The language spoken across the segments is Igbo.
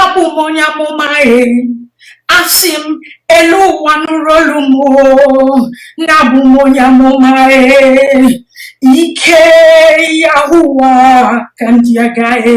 abụ m onye amụma e asị m elu ụwa nụrụ olu m na abụ m onye amụma ike ya ụwa ka ndị agaghị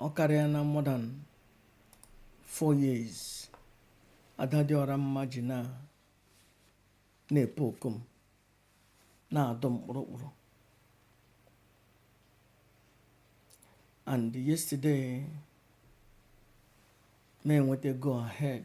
ọ karịa na more than 4 years adadịọra mma ji na na-epe oku m na-adọ m kpụrụkpụrụ and yesterday m enweta go ahead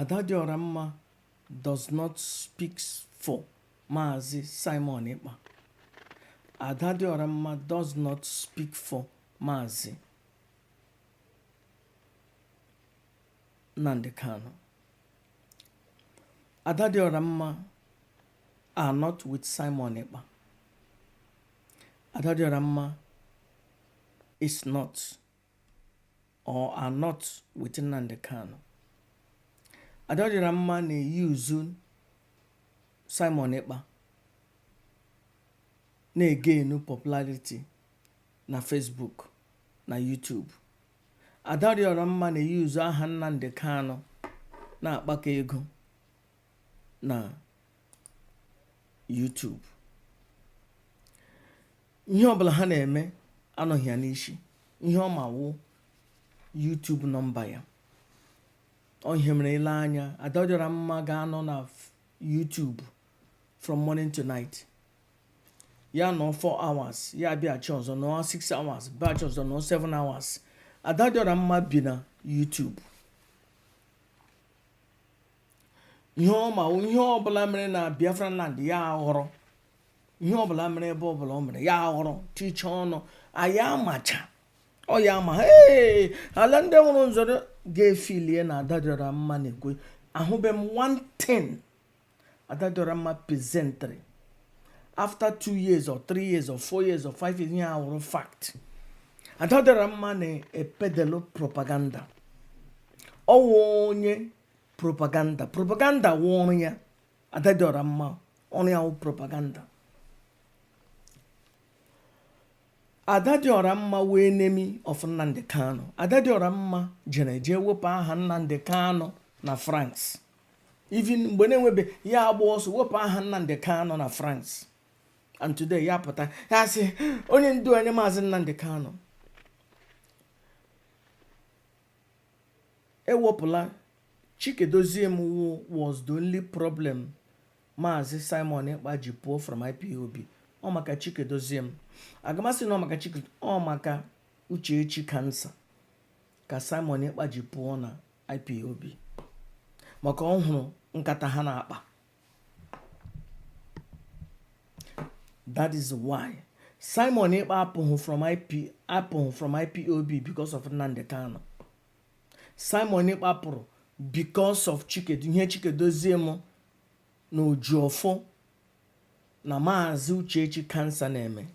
Ada dị ọra mma does not speak for Maazị Simon Ekpa. Ada dị ọra mma does not speak for Maazị Nnamdi Kanu. Ada dị ọra mma are not with Simon Ekpa. Ada dị ọra mma is not or are not with Nnamdi Kanu. Ada dị ọra mma na-eyuzu Simon Ekpa na-egenu popularity na Facebook na YouTube. Ada dị ọra mma na-eyuzu aha Nnamdi Kanu na-akpakọ ego na YouTube. ihe ọbụla ha na-eme anọghị ya n'isi ihe ọ ma wụ YouTube nọmba ya ọ ihe mere i lee anya adadịọra mma ga-anọ na YouTube from morning to night ya nọ 4 hours ya bịachi ọzọ nọ 6 hours bịachi ọzọ nọ 7 hours adadịọra mma bi na YouTube ihe ọ ma ihe ọbụla mere na biafra land ya aghọrọ ihe ọbụla mere ebe ọbụla ọ mere ya aghọrọ ticha ọnụ ya amacha ọ ya ama ee ala ndị nwụrụ nzọrọ ga-efilie na adadịọra mma na-ekwu ahụbe m one thing adadịọra mma presentiri after two years or three years or four years or five years ihe ahụ awụrụ fact adadịọra mma na-epedelu propaganda ọ wụ onye propaganda propaganda wụ ọrụ ya adadịọra mma ọrụ ya wụ propaganda adadịọra mma wụ enemy of nnamdi kanu adadịọra mma jere jee wepụ aha nnamdi kanu na france even mgbe na-enwebe ya agba ọsọ wepụ aha nnamdi kanu na france and today ya pụta ya sị onye ndu anyị maazị nnamdi kanu ewepụla Chika Edoziem was the only problem Maazị Simon Ekpa ji pụọ from IPOB ọ maka Chika Edoziem aga m asị na ọ maka Chike ọ maka Uchechi kansa ka Simon Ekpa ji pụọ na IPOB maka ọ hụrụ nkata ha na-akpa that is why simon ekpa apụghị from ip apụghị from ipob because of nnamdi kanu simon ekpa pụrụ because of chikedu ihe chika edoziem na ejiọfọ na maazị uchechi kansa na-eme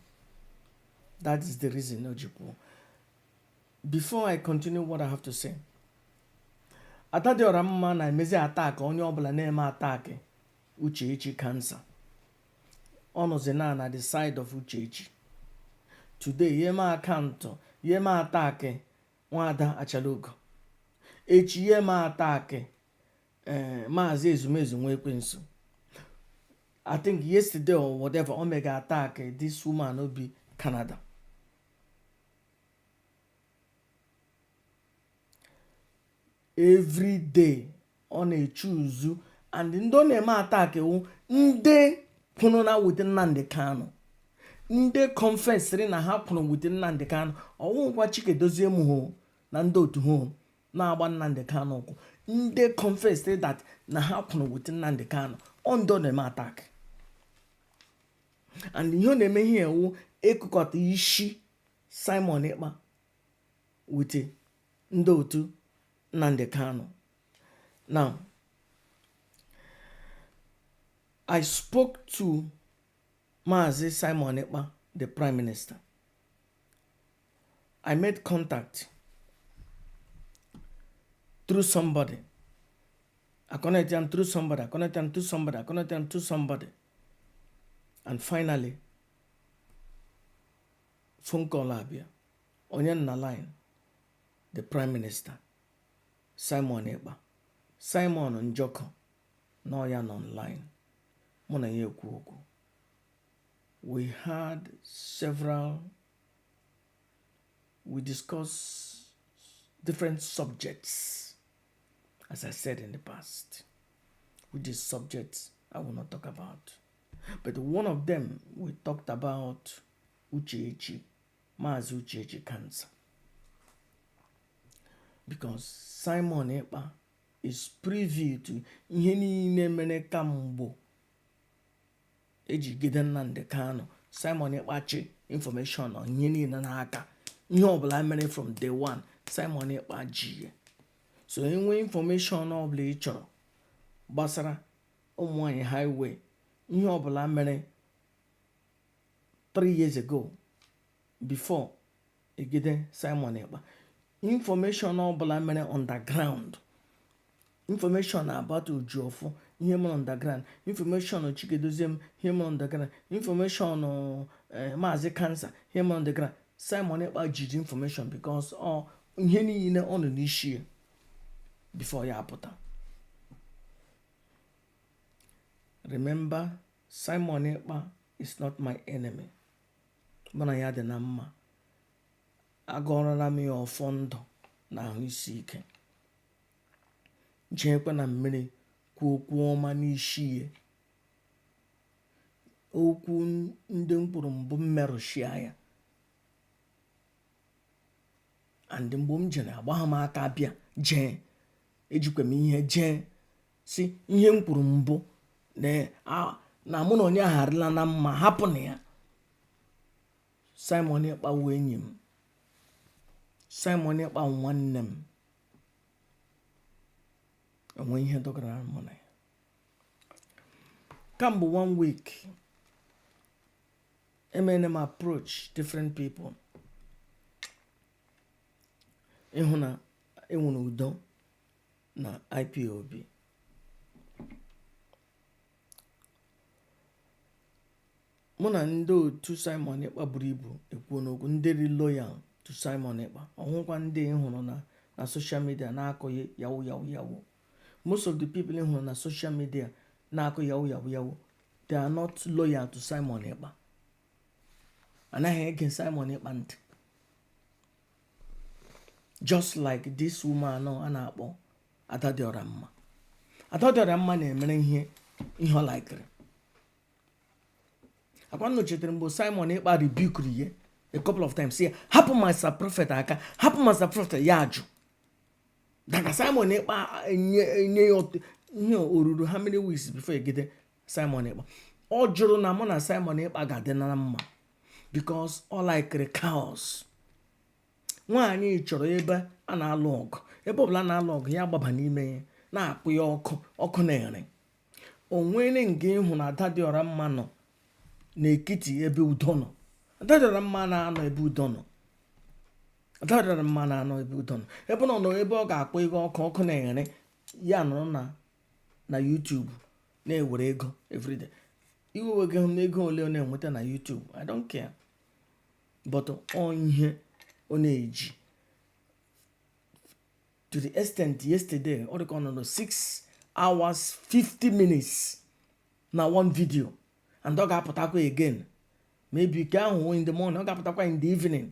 that is the reason o ji pụọ before i continue what i have to say ada dị ọra mma na-emezi attack onye ọbụla na-eme attack uchechi kansa ọ nọzi na na the side of uchechi today ya eme akaụntụ ya eme attack nwada achalugo echi ya eme attack eh, maazị ezumezu nwa ekwensu i think yesterday or whatever o mega attack this woman obi canada every day ọ na-echuzu and ndị ọ na-eme attack wụ ndị kwụrụ na with Nnamdi Kanu ndị kọnfesịrị na ha kwụrụ with Nnamdi Kanu ọ wụkwa Chika Edoziem na ndị otu ha na-agba Nnamdi Kanu ụkwụ ndị kọnfesịrị that na ha kwụrụ with Nnamdi Kanu ọ ndị ọ na-eme attack and ihe ọ na-eme ihe a wụ ịkụkọta isi Simon Ekpa wute ndị otu Nnamdi Kanu. Now, I spoke to Mazi Simon Ekpa, the Prime Minister. I made contact through somebody. I connected them through somebody. I connected them to somebody. I connected them to somebody. And finally, phone call abịa ọ ya nọ na line the prime minister simon ekpa simon njọkụ na ọ ya nọ online mụ na ya ekwu okwu we had several we discussed different subjects as i said in the past which is subjects i will not talk about but one of them we talked about Uchechi Maazị Uchechi Kansa because Simon Ekpa is privy to ihe niile mere kamgbo e jigide Nnamdi Kanu Simon Ekpa chị information on ihe niile n'aka ihe ọbụla mere from day one Simon Ekpa ji ya so i nwee information ọbụla ị chọrọ gbasara ụmụnwaanyị highway ihe ọbụla mere 3 years ago before egide simon ekpa information ọbụla mere underground information about Ejiofor ihe mere underground information Chika Edoziem ihe mere underground information eh, maazị kansa ihe mere underground simon ekpa jiri information because ọ ihe niile ọ nọ n'isi ya before ya apụta remember simon ekpa is not my enemy mụ na ya dị na mma agọọrọla m ya ọfọ ndụ na ahụ isi ike jeekwa na mmiri kwuo okwu ọma n'isi ya okwu ndị m kwuru mbụ m merụchia ya and mgbe m jere agbagha m aka bịa jee ejikwa m ihe jee sị ihe m kwuru mbụ na mụ na onye ahụ arịla na mma hapụnụ ya Simon Ekpa wụ enyi m Simon Ekpa wụ nwanne m enwe ihe dọgara mụ na ya kamgbe one week emere m approach different people ịhụ na enwere udo na IPOB mụ na ndị otu Simon Ekpa buru ibu ekwuona okwu ndị dị loyal to Simon Ekpa ọhụkwa ndị ị hụrụ na social media na-akọ yawu yawu yawu most of the people ị hụrụ na social media na-akọ yawu yawu yawu they are not loyal to Simon Ekpa anaghị ege Simon Ekpa ntị just like this woman a na-akpọ Ada dị ọra mma Ada dị ọra mma na-emere ihe ihe ọ likere ọkwa unu chetere mgbe Simon Ekpa rebukuru ya a couple of times ya hapụ Master Prophet aka hapụ Master Prophet ya ajụ daga Simon Ekpa nye ya ihe o ruru how many weeks before egide Simon Ekpa ọ jụrụ na mụ na Simon Ekpa ga-adị na mma because ọ likere chaos nwaanyị chọrọ ebe a na-alụ ọgụ ebe ọbụla a na-alụ ọgụ ya gbaba n'ime ya na-akpọ ya ọkụ ọkụ na-ere o nwere nga ị hụ na ada dị ọra mma nọ n'ekiti ebe udo nọ ada dị ọra mma na-anọ ebe udo nọ ada dị ọra mma na-anọ ebe udo nọ ebe ọ nọ ebe ọ ga-akpọ ihe ọkụ ọkụ na-ere ya nọrọ na na YouTube na-ewere ego everyday iwe eweghị m ego ole ọ na-enweta na YouTube I don't care but ọ ihe ọ na-eji to the extent yesterday ọ dịka ọ nọ na 6 hours 50 minutes na one video and ọ ga-apụtakwa again maybe nke ahụ in the morning ọ ga-apụtakwa in the evening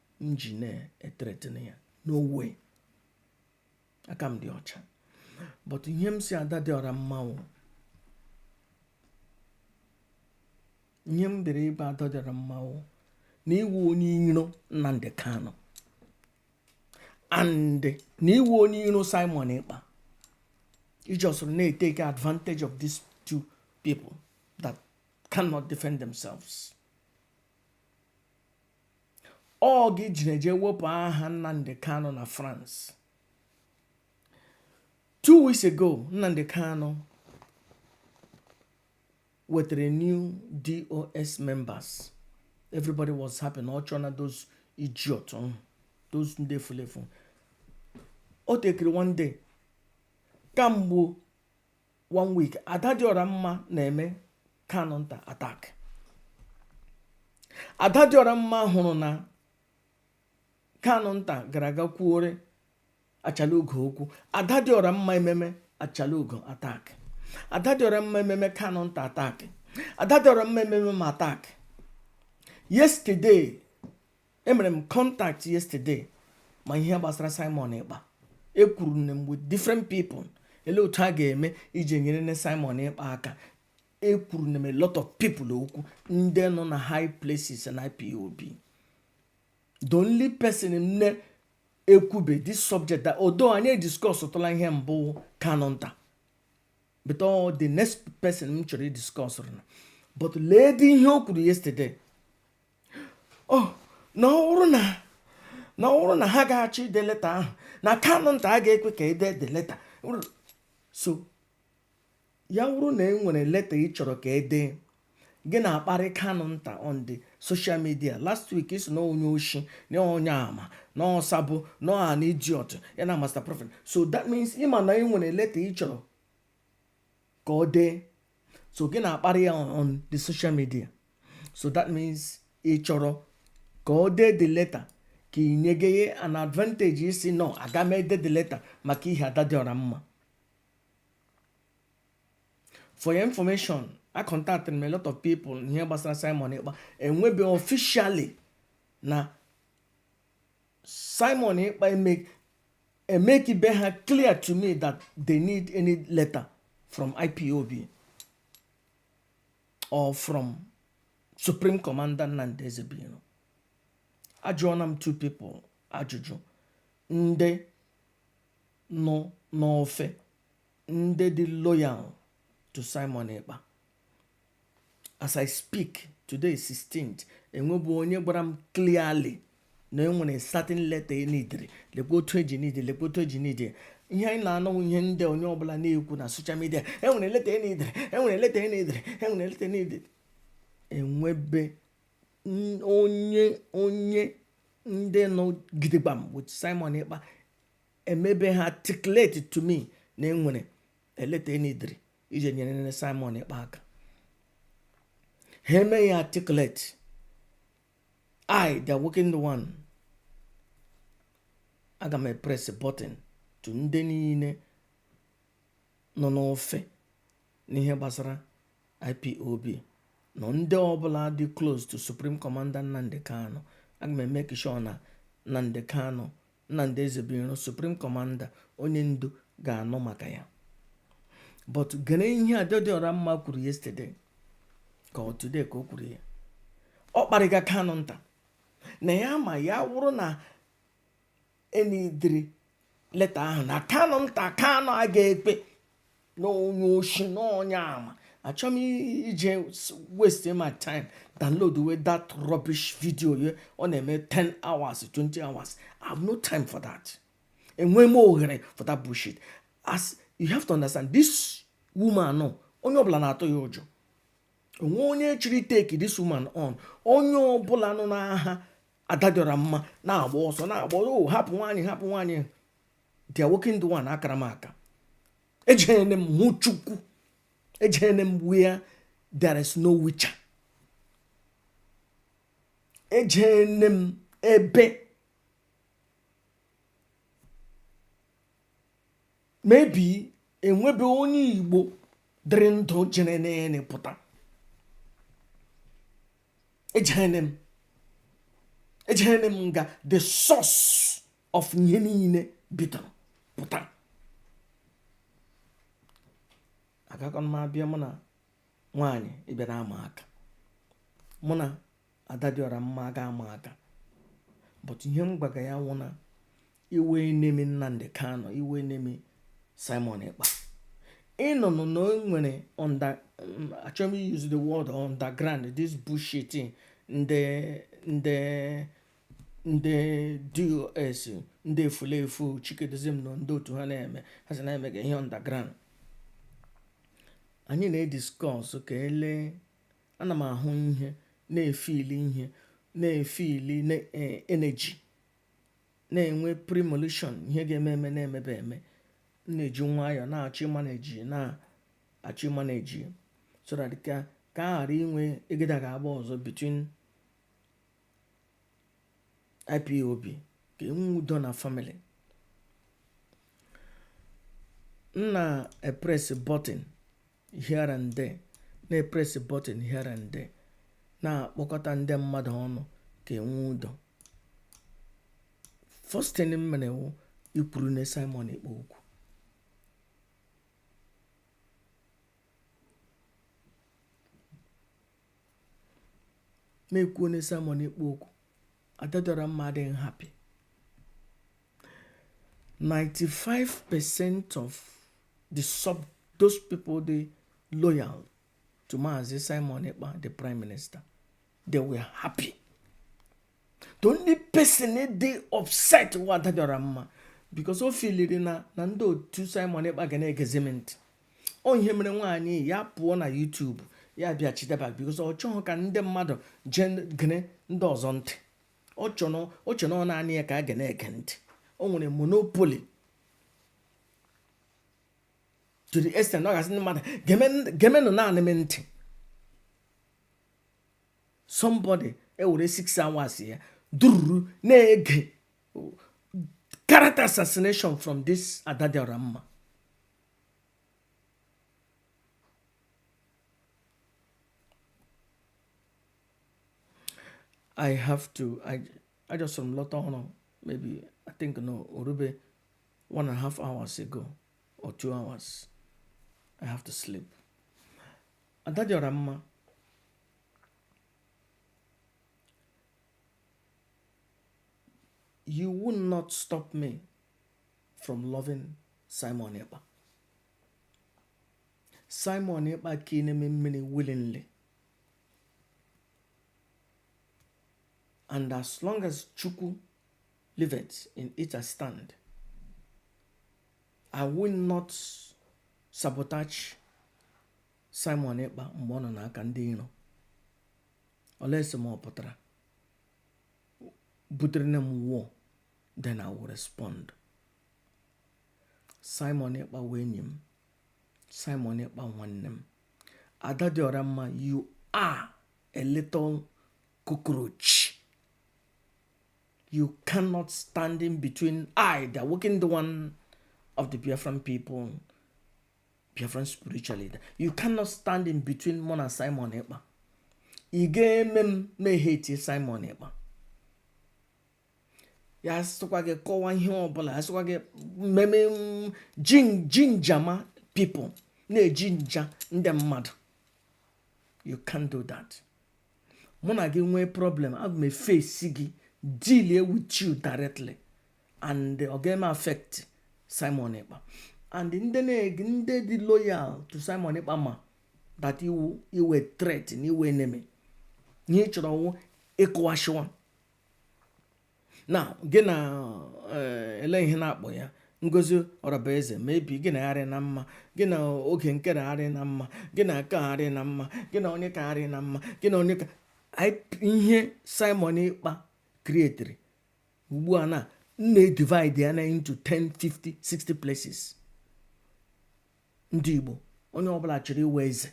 m ji na-ethreaten ya no way aka m dị ọcha but ihe m si ada dị ọra mma wụ ihe m dere ebe ada dị ọra mma wụ na ị wụ onye iro Nnamdi Kanu and na ị wụ onye iro Simon Ekpa ị ji soro na-etake advantage of these two people that cannot defend themselves oge e jiri je wepụ aha nnamdị kanụ na france two weeks ago nnamdị kanụ wetara new DOS members everybody was happy na ọ chọọ na those idiot mm, those ndị fulefu o tekiri one day kamgbe one week ada dị ọra mma na-eme kanụ nta attack ada dị ọra mma hụrụ na kanụ nta gara aga kwuore Achalugo okwu ada dị ọra mma ememe Achalugo attack ada dị ọra mma ememe kanụ nta attack ada dị ọra mma ememe m attack yesterday emere m contact yesterday ma ihe gbasara Simon Ekpa ekwurune m with different people ele otu a ga-eme iji nyere nne Simon Ekpa aka ekwurune m a lot of people okwu ndị nọ na high places na IPOB the only person m na-ekwube this subject that although anyị discuss tụla ihe mbụ Kanu Nta but ọ the next person m chọrọ idiscuss na but lee dị ihe o kwuru yesterday ọ oh, na ọ bụrụ na na ọ bụrụ na ha ga-achọ ide leta ahụ na kanụ nta aga ekwe ka e dee the letter so ya wụrụ na ị nwere leta ị chọrọ ka e dee gị na-akparị kanụ nta on the social media last week ị sị na ọ onye oshi na onye ama na ọ sabo na ọ an idiot ya na master prophet so that means ị ma na ị nwere leta ị chọrọ ka o dee so gị na-akparị ya on the social media so that means ị chọrọ ka o dee the letter ka ị nyege ya an advantage ịsị no aga m ede the letter maka ihe ada dị ọra mma for your information acontactiri m a lot of people ihe gbasara Simon Ekpa enwebe officially na Simon Ekpa eme emekibe ha clear to me that they need any letter from ipob or from supreme commander nnamdi ezebiro ajụọna m two people ajụjụ ndị nọ n'ofe ndị dị loyal to simon ekpa as i speak today 16th enwebu onye gwara m clearly na enwere certain letter enidiri lekwa otu eji nide lekwa otu eji nide ihe anyị na-anụ wụ ihe ndị onye ọbụla na-ekwu na soshal midia enwere leta enidiri enwere leta enidiri enwere leta enidiri enwebe onye onye ndị nọ gidigbam with Simon Ekpa emebe ha articulate to me na enwere leta enidiri ije nyere nne Simon Ekpa aka ha eme ya articulate I the awakened one aga m epress button to ndị niile nọ n'ofe n'ihe gbasara IPOB na ndị ọbụla dị close to Supreme Commander Nnamdi Kanu aga m emeki sure na Nnamdi Kanu Nnamdi Ezebiro Supreme Commander onye ndu ga-anụ maka ya but gere ihe Adadịọra mma kwuru yesterday ka ọ today ka o kwuru ya ọ kparịga Kanunta na ya ma ya wụrụ na enidiri leta ahụ na Kanunta Kanu aga ekwe n'onye oshi n'onye ama achọghị m ije waste my time downloadwe that rubbish video ye ọ na-eme 10 hours 20 hours i have no time for that enweghị m ohere for that bullshit as you have to understand this woman nọ onye ọbụla na-atụ ya ụjọ onwe onye chiri take this woman on onye ọbụla nụna aha adadịọra mma na-agba ọsọ na-agba o oh, hapụ nwaanyị hapụ nwaanyị the awakened one akara m aka ejene m hụ chukwu ejene m where there is no witcher ejene m ebe maybe enwebe onye igbo dịrị ndụ jerene pụta ejene m ejene m nga the source of ihe niile bidoro pụta agakọ m abịa mụ na nwaanyị ịbịa na ama aka mụ na Adadịọra mma aga ama aka but ihe m gwaga ya wụ na ị wụ enemy Nnamdi Kanu ị wụ enemy Simon Ekpa ị nọnụ na o nwere achọghị m use the word underground this bullshit ndị ndị ndị DOS ndị efulefu Chika Edoziem na ndị otu ha na-eme ha sị na emega ihe underground anyị na-ediskọs ka ele ana m ahụ ihe na-efili ihe na-efili eneji na-enwe premonition ihe ga-eme eme na-emebe eme na-eji nwayọọ na-achọ ịmaneji na-achọ ịmaneji so that ka ka a ghara inwe egeda ga-agba ọzọ between IPOB ka e nwee udo na famili m na-epres bọtịn here and there na-epres bọtịn here and there na-akpọkọta ndị mmadụ ọnụ ka e nwee udo first thing m mere wụ ikwuru na Simon Ekpa okwu na-ekwu onye Simon Ekpa okwu Ada dị ọra mma adịghị happy 95% of the sub those people dey loyal to Mazi Simon Ekpa the prime minister they were happy the only person dey upset wụ Ada dị ọra mma because o filiri na na ndị otu Simon Ekpa ga na-egezi m ntị ọ ihe mere nwaanyị ya pụọ na YouTube ya bịa chideba bikos ọ chọghị ka ndị mmadụ jee gene ndị ọzọ ntị ọ chọrọ ọ naanị ya ka a ga na-ege ntị o nwere monopoli to the extent ọ ga-asị ndị mmadụ gemenụ naanị m ntị somebody ewere six hours ya dururu na-ege character assassination from this Ada dị ọra mma I have to I I just some lot on maybe I think no orube one and a half hours ago or two hours. I have to sleep. Ada dị ọra mma. You will not stop me from loving Simon Ekpa Simon Ekpa ka ị na-eme mmiri willingly and as long as Chukwu liveth in it I stand I will not sabotage Simon Ekpa mgbe ọ nọ n'aka ndị iro olesi ma ọ pụtara butere na m wụọ then I will respond. Simon Ekpa wụ enyi m. Simon Ekpa nwanne m. Ada dị ọra mma, you are a little cockroach. You cannot stand in between I, the awakened one of the Biafran people, Biafran spiritual leader. You cannot stand in between mụ na Simon Ekpa. Ị ga-eme m na-eheti Simon Ekpa. ya sịkwa gị kọwa ihe ọbụla ya sịkwa gị mmemme ginger my people na-ejinja ndị mmadụ you can do that mụ na gị nwee problem aga m efesi gị deal with you directly and ọ ga-eme affect Simon Ekpa and ndị na-ege ndị dị loyal to Simon Ekpa ma that ị wụ ị wụ threat na ị wụ enemy ihe ị chọrọ wụ ịkụwashiwa now gị na eh, ele ihe na-akpọ ya Ngozi Orabueze maybe gị na ya arị na mma gị na Oge Nkere arị na mma gị na nke arị na mma gị na Onyeka arị na mma gị na Onyeka ihe Simon Ekpa krietiri ugbu a na na-edivide ya na into 10 50 60 places ndị igbo onye ọbụla chọrọ ịwụ eze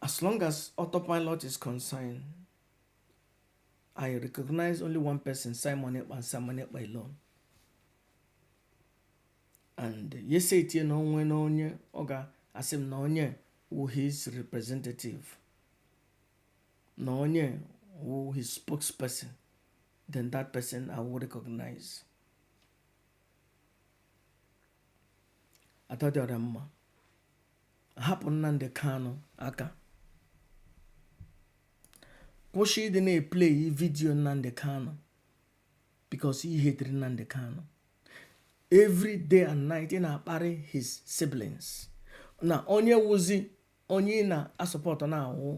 As long as autopilot is concerned, I recognize only one person, Simon Ekpa and Simon Ekpa alone. And yes, it you know when onye oga asim na onye who his representative, na onye who his spokesperson, then that person I will recognize. ada dị ọra mma hapụ Nnamdi Kanu aka kwụsị ịdị na-epleyi vidiyo Nnamdi Kanu because ị hetiri Nnamdi Kanu every day and night ị na-akparị his siblings na onye wụzị onye ị na-asupport na-awụ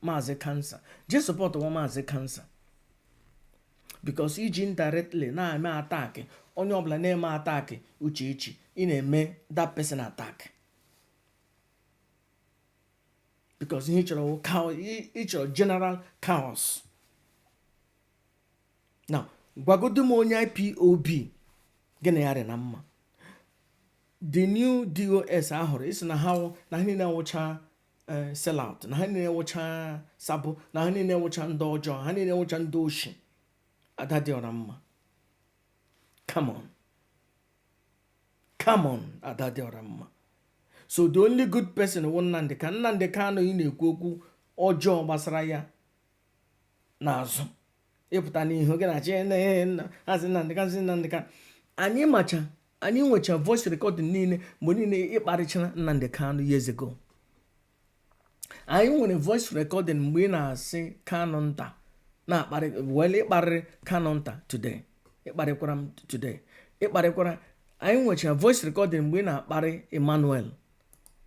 maazị kansa jee supportuwa maazị kansa because i ji indirectly na-eme attack onye ọbụla na-eme attack Uchechi ị na-eme that person attack because ihe ị chọrọ ị chọrọ general chaos na gwagodu m onye ipob gị na ya rị na mma the new dos ọhụrụ ị sị na ha na ha niile wụcha eh, sellout na ha niile wụcha sabo na ha niile wụcha ndị ọjọọ ha niile wụcha ndị oshi ada dị ọra mma come on come on ada dị ọra mma so the only good person wụ Nnamdi ka Nnamdi Kanu ị na-ekwu okwu ọjọọ gbasara ya n'azụ ị pụta n'ihu gị na chinenna maazị Nnamdi Kanu maazị Nnamdi Kanu anyị macha anyị nwecha voice recording niile mgbe niile ị kparịchara Nnamdi Kanu years ago anyị nwere voice recording mgbe ị na-asị Kanunta na-akparị wele ị kparịrị Kanunta today ịkparịkwara m today ịkparịkwara anyị nwecha voice recording mgbe ị na-akparị Emmanuel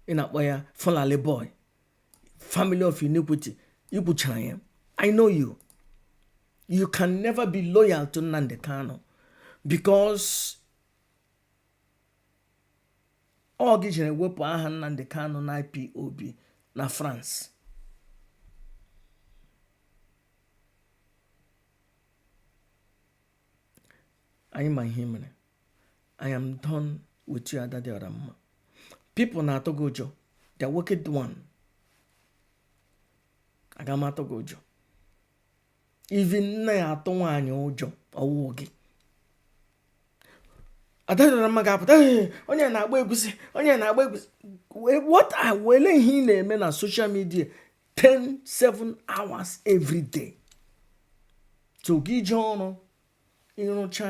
ị na-akpọ ya Fulani boy family of iniquity i kwuchara ya i know you you can never be loyal to Nnamdi Kanu because ọ gị jere wepụ aha Nnamdi Kanu na IPOB na France anyị ma ihe mere I am done with you ada dị ọra mma people na-atụ gị ụjọ the wicked one aga m atụ gị ụjọ even nna ya atụ nwaanyị ụjọ ọ wụ gị ada dị ọra mma ga-apụta onye na-agba egwusi onye na-agba egwusi what I wele ihe ị na-eme na social media 10 7 hours every day so gị jee ọrụ ịrụcha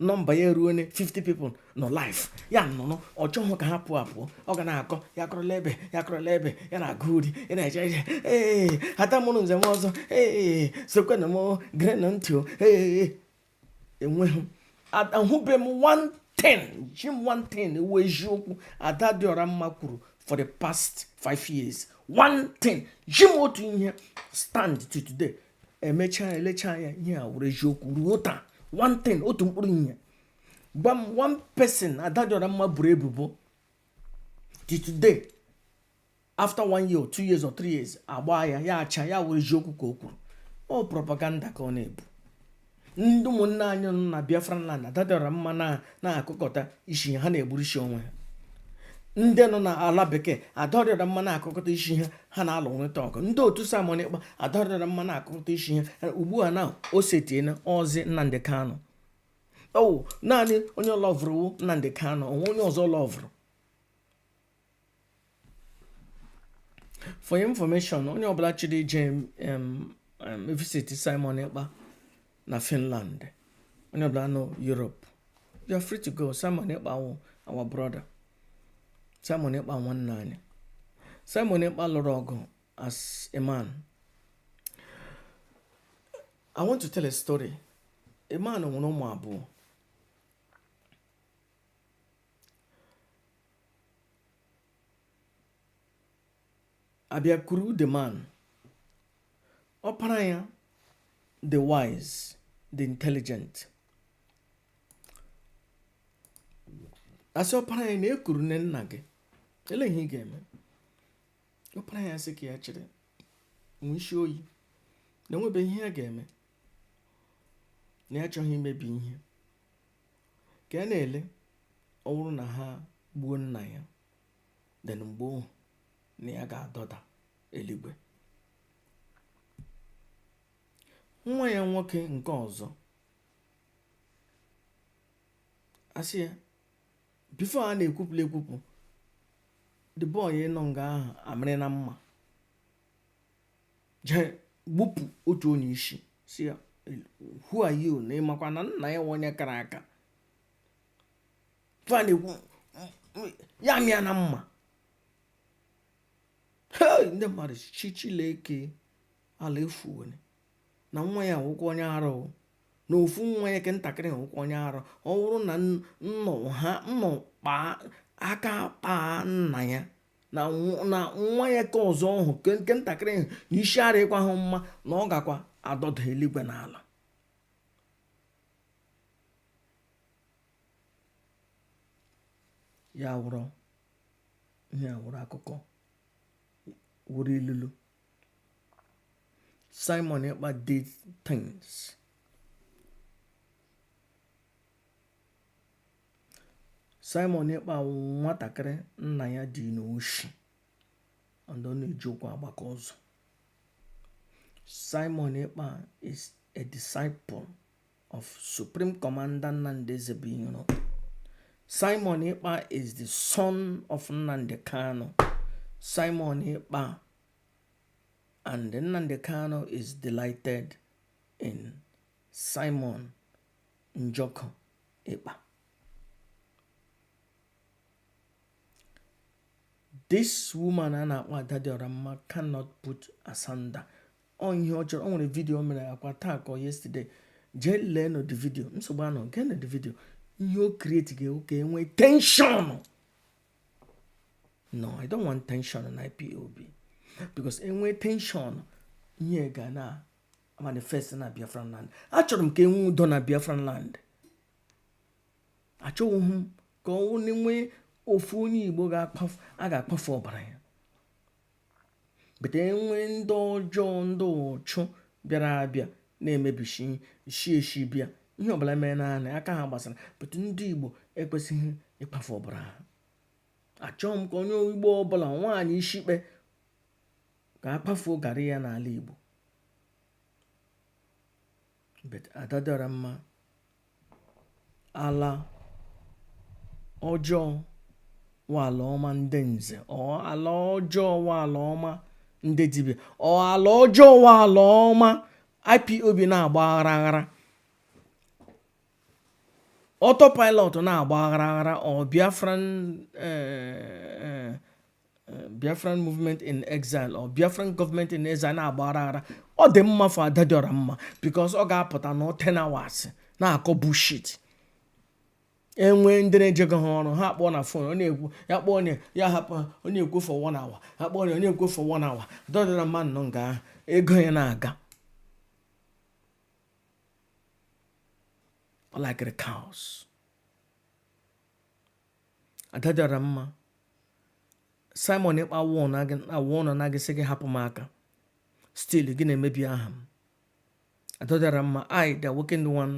nọmba ya eruone 50 people nọ live ya nọnụ ọ chọghị ka ha pụọ apụọ ọ ga na-akọ ya kọrọla ebe ya kọrọla ebe ya na-agụ uri ya na-eje eje ee ata mụrụ nze m ọzọ ee sekwenụ m gerenụ ntị o ee enweghị ahụbe m one thing zi m one thing wụ eziokwu ada dị ọra mma kwuru for the past five years one thing zi m otu ihe stand till today e mechaa e lechaa anya ihe a wụrụ eziokwu ruo taa one thing otu mkpụrụ ihe gwa m one person ada dị ọra mma boro ebubo till today after one year or two years or three years agba ya ya achaa ya wụrụ eziokwu ka o kwuru ọ propaganda ka ọ na-ebu ndị ụmụnne anyị nọ na Biafra land ada dị ọra mma na-akụkọta isi ha na-egburisi onwe ha ndị nọ n'ala bekee ada dị ọra mma na-akụkọta isi ha ha na-alụrịta ọgụ ndị otu Simon Ekpa ada dị ọra mma na-akụkọta isi ha ugbu a na o setiela ọ zi Nnamdị Kanụ ọ wụ naanị onye lọvụrụ wụ Nnamdị Kanụ o nwe onye ọzọ lọvụrụ for your information onye ọbụla chọrọ ije visit Simon Ekpa na Finland onye ọbụla nọ Europe you are free to go Simon Ekpa wụ our brother Simon Ekpa nwanne anyị Simon Ekpa lụrụ ọgụ as a man I want to tell a story a man nwere ụmụ abụọ a bịa kuru the man ọpara ya the wise the intelligent a sị ọpara ya na ekurune nna gị ele ihe ị ga-eme ọpara ya sị ka ya chịrị nwee isi oyi na enwebeghị ihe ya ga-eme na ya achọghị imebi ihe ka ya na-ele ọ bụrụ na ha gbuo nna ya then mgbe ahụ na ya ga-adọda eluigwe nwa ya nwoke nke ọzọ a sị ya before a na-ekwupụla ekwupụ the boy nọ nga ahụ amịrịna mma jee gbupụ otu onye isi sị ya who are you na ịmakwa na nna ya wụ onye kara aka fa na-ekwu ya mịa na mma ndị mmadụ shị Chileke ala efuwere na nwa ya wụkwa onye arụ na ofu nwa ya ke ntakịrị wụkwa onye arụ ọ bụrụ na nnọ ha nnọ kpaa aka kpaa nna ya na nwa ya ke ọzọ ọhụ nke ntakịrị ahụ na isi arịkwahụ mma na ọ gakwa adọda eluigwe n'ala ya wụrụ ihe wụrụ akụkọ wụrụ ilulu Simon Ekpa did things Simon Ekpa wụ nwatakịrị nna ya dị n'oshi and ọ na-eji ụkwụ agbaka ụzọ Simon Ekpa is a disciple of Supreme Commander Nnamdi Ezebuiro Simon Ekpa is the son of Nnamdi Kanu Simon Ekpa and Nnamdi Kanu is delighted in Simon Njoku Ekpa this woman a na-akpọ ada dị ọra mma cannot put asunder ọ ihe ọ chọrọ ọ nwere vidio mere akwa taa ka ọ yesterday jee lee nụ the video nsogbu anọ nke na the video ihe ọ create ga wụ ka e nwee tension no i don't want tension na IPOB because e nwee tension ihe ga na manifest na biafra land achọrọ m ka e nwee udo na biafra land achọghị m ka e nwee ofu onye igbo a ga-akpafu ọbara ya but e nwee ndị ọjọọ ndị ụchụ bịara abịa na-emebishi shi eshi bịa ihe ọbụla mere naanị aka ha gbasara but ndị igbo ekwesịghị ịkpafu ọbara ha achọghị m ka onye igbo ọbụla nwaanyị ishikpe ka a kpafuo garị ya n'ala Igbo but ada dị ọra mma ala ọjọọ wụ ala ọma ndị nze ọ ala ọjọọ wụ ala ọma ndị dibịa ọ ala ọjọọ wụ ala ọma IPOB na-agba aghara aghara autopilot na-agba aghara aghara ọ biafran eh, eh, eh, Biafran movement in exile or Biafran government in exile na-agba aghara aghara ọ dị mma for ada dị ọra mma because ọ ga-apụta na ten hours na-akọ bullshit enwe ndị na-ejego ha ọrụ ha kpọọ na phone ọ na-ekwu ya kpọọ onye ya hapụ ha ọ na-ekwu for one hour ha kpọọ onye ọ na-ekwu for one hour dọdịra mmadụ nọ nga ahụ ego ya na-aga like the cows. ada dị ọra mma simon Ekpa won awụ ọnụ anaghị sị gị hapụ m aka still gị na-emebi aha m ada dị ọra mma I the awoken one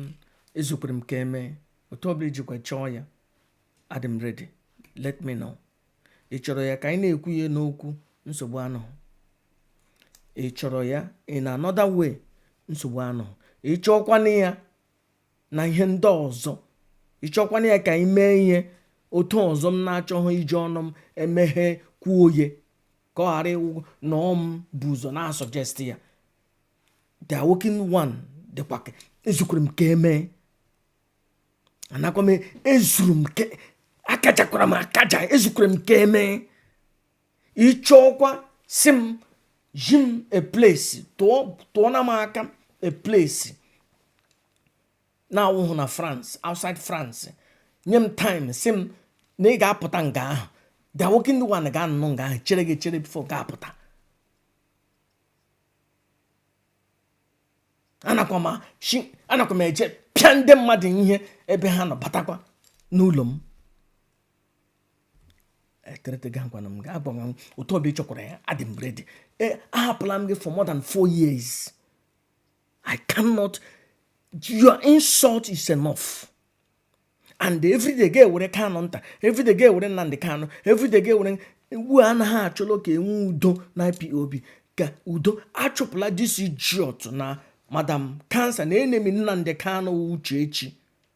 ezukwere m ka eme otu ọbụla i jikwa chọọ ya adị m ready let me know ị chọrọ ya ka anyị na-ekwu ya n'okwu nsogbu anọhụ ị chọrọ ya in another way nsogbu anọhụ ị chọọkwanụ ya na ihe ndị ọzọ ị chọọkwanụ ya ka anyị mee ya otu ọzọ m na-achọghị iji ọnụ m emeghe kwuo ya ka ọ ghara ịwụ na ọ m bụ ụzọ na-asuggest ya the awoken one dịkwa ezukwere m ka emee anakwa m ezuru m akajakwara m akaja ezukwere m ka emee ị chọọkwa sị m zi m a place tụọ na m aka a place na-awụhụ na France outside France nye m time sị m na ị ga-apụta nga ahụ the awoken one ga-anọ nga ahụ chere gị chere before ga-apụta anakwa m eje pịa ndị mmadụ ihe ebe ha nọ batakwa n'ụlọ m eterete gị ngwana m ga-agbanwe m otu ọbụla ị chọkwara ya adị m ready e, ahapụla m gị for more than four years i cannot your insult is enough and everyday ga-ewere kanụ nta everyday ga-ewere nnamdị kanụ everyday ga-ewere ugbu a na ha chọrọ ka enwe udo na IPOB ka udo achụpụla this idiot na madam cancer na enemy nnamdị kanụ uchechi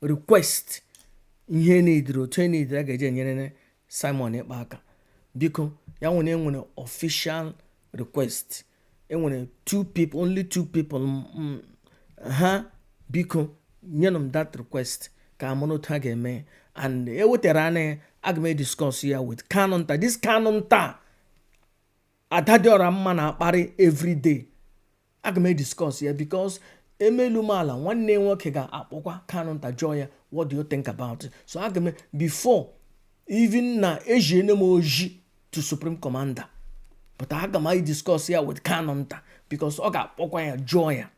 request ihe unu dere otu unu dere a ga-eji enyere Simon Ekpa aka biko ya nwere enwere official request enwere two people only two people ha biko nyenụ m that request ka amụrụ otu ha ga-eme and e wetara m ya aga m ediscuss ya with Kanu Nta this Kanu Nta ada dị ọra mma na-akparị everyday aga m ediscuss ya because emelu m ala nwanne nwoke ga-akpọkwa kanụ nta jụọ ya what do you think about it so aga m before even na eziene m ozi to supreme commander but aga m ediscuss ya with kanụ nta because ọ ga-akpọkwa ya jụọ ya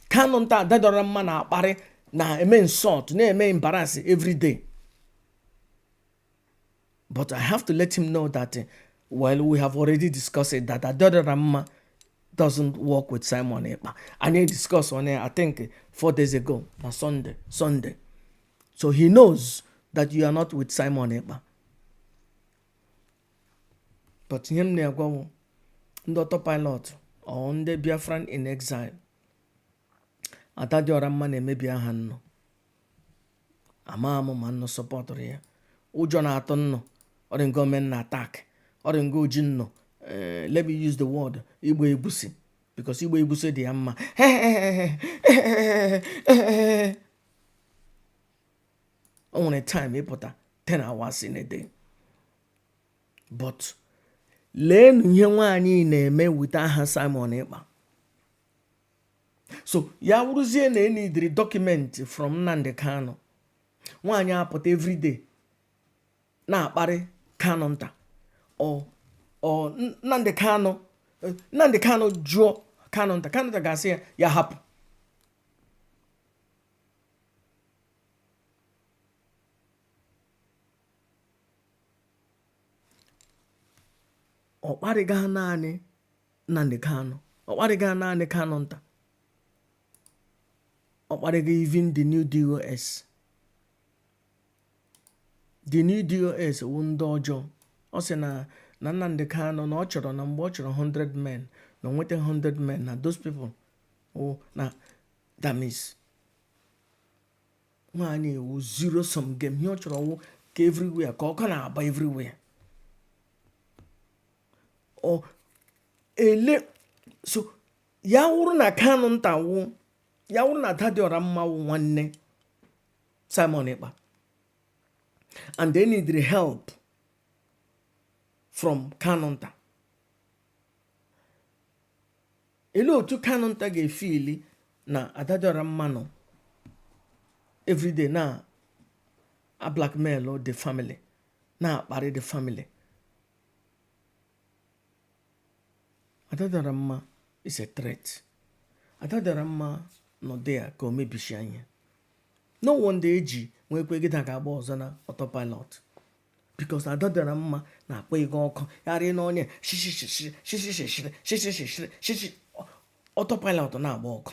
kanụ nta ada dị ọra mma na-akparị na-eme insult na-eme embarrass everyday but i have to let him know that eh, well we have already discussed it that adadịọra mma doesn't work with simon ekpa anyị discuss on it i think eh, four days ago na sunday sunday so he knows that you are not with simon ekpa but ihe m na-agwa wụ ndị autopilot or ndị biafran in exile adadịọra mma na-emebi aha nnụ ama m ma nnụ sọpọtụrụ ya ụjọ na-atụ nnụ ọ dị ngo men na attack ọ dị ngo ji nnụ eh, let me use the word igba egusi because igba egusi dị ya mma o nwere time ịpụta 10 hours in a day but leenụ ihe nwaanyị na-eme wute aha Simon Ekpa so ya wụrụzie na e needịrị document from Nnamdi Kanu nwaanyị apụta everyday na-akparị Kanu nta ọ Nnamdi Kanu Nnamdi Kanu jụọ Kanu nta Kanu nta asị ya ya hapụ ọ kparịga naanị Nnamdi Kanu ọ kparịga naanị Kanu nta ọ kparịga even the new DOS the new DOS wụ ndị ọjọọ ọ sị na Nnamdi Kanu na ọ chọrọ na mgbe ọ chọrọ 100 men na o nweta 100 men na those people wụ na dummies nwaanyị a wụ zero sum game ihe ọ chọrọ wụ ka everywhere ka ọkụ na-agba everywhere ọ ele so ya wụrụ na kanụ nta wụ ya wụrụ na ada dị ọra mma wụ nwanne simon ekpa and they need help from kanụ nta ele otu kanụ nta ga-efeeli na ada dị ọra mma nọ everyday na-ablackmail the family na-akparị the family ada dị ọra mma is a threat ada dị ọra mma nọdụ ya ka o mebishie ihe no wonder eji nwee kwe gịda ga-agba ọzọ na autopilot because ada dị ọra mma na-akpọ ego ọkụ yarị n'ọnya shishi autopilot na-agba ọkụ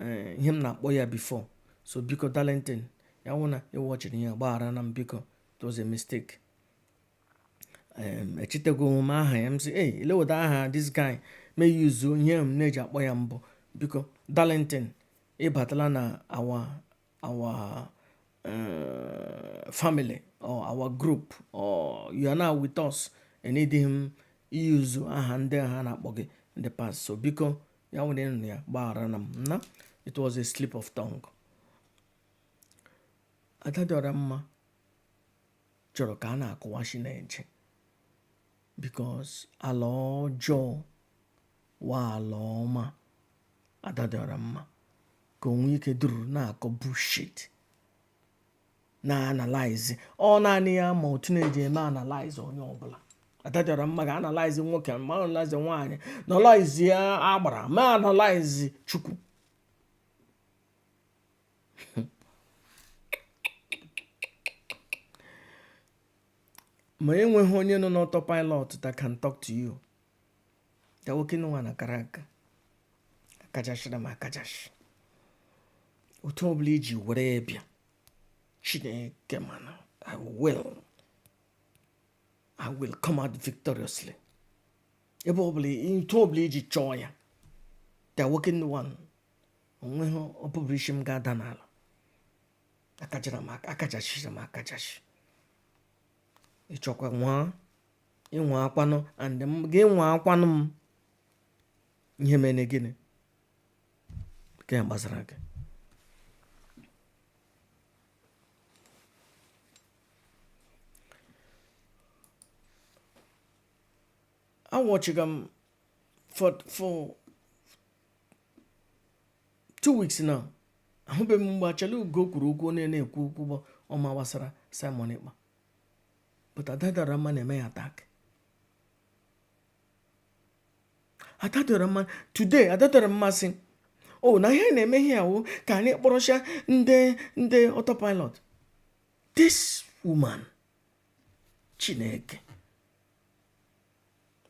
eh, ihe m na-akpọ ya before so biko darlington ya wụ na ị watchiri ya gbagharanụ m biko it was a mistake echetaghị m aha ya m sị ei eleweda aha this guy m use ihe m na-eji akpọ ya mbụ biko darlington ịbatala na our our uh, family or our group or you are now with us aneedịghị m i-use aha ndị ha na-akpọ gị in the past so biko ya wụrụ ị nụ ya gbagharanụ m na it was a slip of tongue ada dị ọra mma chọrọ ka a na-akụwa ishi na-eche because ala ọjọọ wụ ala ọma ada dị ọra mma ka o nwee ike dụrụ na-akọ bullshit na-analyze ọ naanị ya ma otu na-eji eme analyze onye ọbụla ada dị ọra mma ga analyze nwoke ma analyze nwaanyị analyze agbara ma analyze chukwu ma enweghị onye nọ n'autopilot that can talk to you da nwoke nwa na kara nka akajachara m akajachi otu ọ bụla iji were bịa chineke mana i will i will come out victoriously ebe ọ bụla otu ọ bụla iji chọọ ya da nwoke nwa o nweghị ọbụbụrụ isi m ga-ada n'ala akajara m akajachiri m akajachi ịchọkwa nwa ị nwaakwanụ and m gị nwaakwanụ m ihe mere gịnị nke a gbasara gị awatchighị m for for two weeks now ahụbeghị m mgbe Achala Ugo kwuru okwu onye na-ekwu okwu bụ ọma gbasara Simon Ekpa but ada dị ọra mma na-eme ya attack ada dị ọra mma today ada dị ọra mma sị o oh, na ihe na-eme ihe a wụ ka anyị kpọrọcha ndị ndị autopilot this woman chineke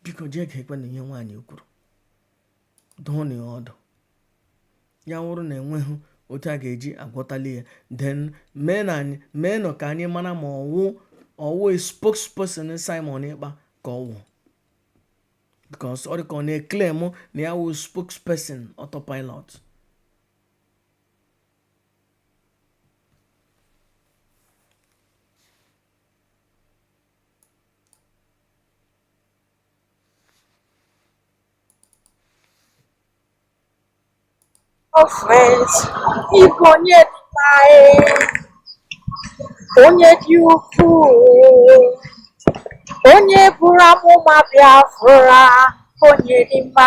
biko jee geekwanụ ihe nwaanyị kwuru dụọnụ ya ọdụ ya wụrụ na enweghị otu a ga-eji agwọtali ya then meenụ ka anyị mara ma ọ wụ ọ wụ spokesperson Simon Ekpa ka ọ wụ because ọ dị ka ọ na-eclaim na ya wụ spokesperson autopilot Hello friends, ị bụ onye dị mma onye dị ukwuu, onye buru amụma Biafra, onye dị mma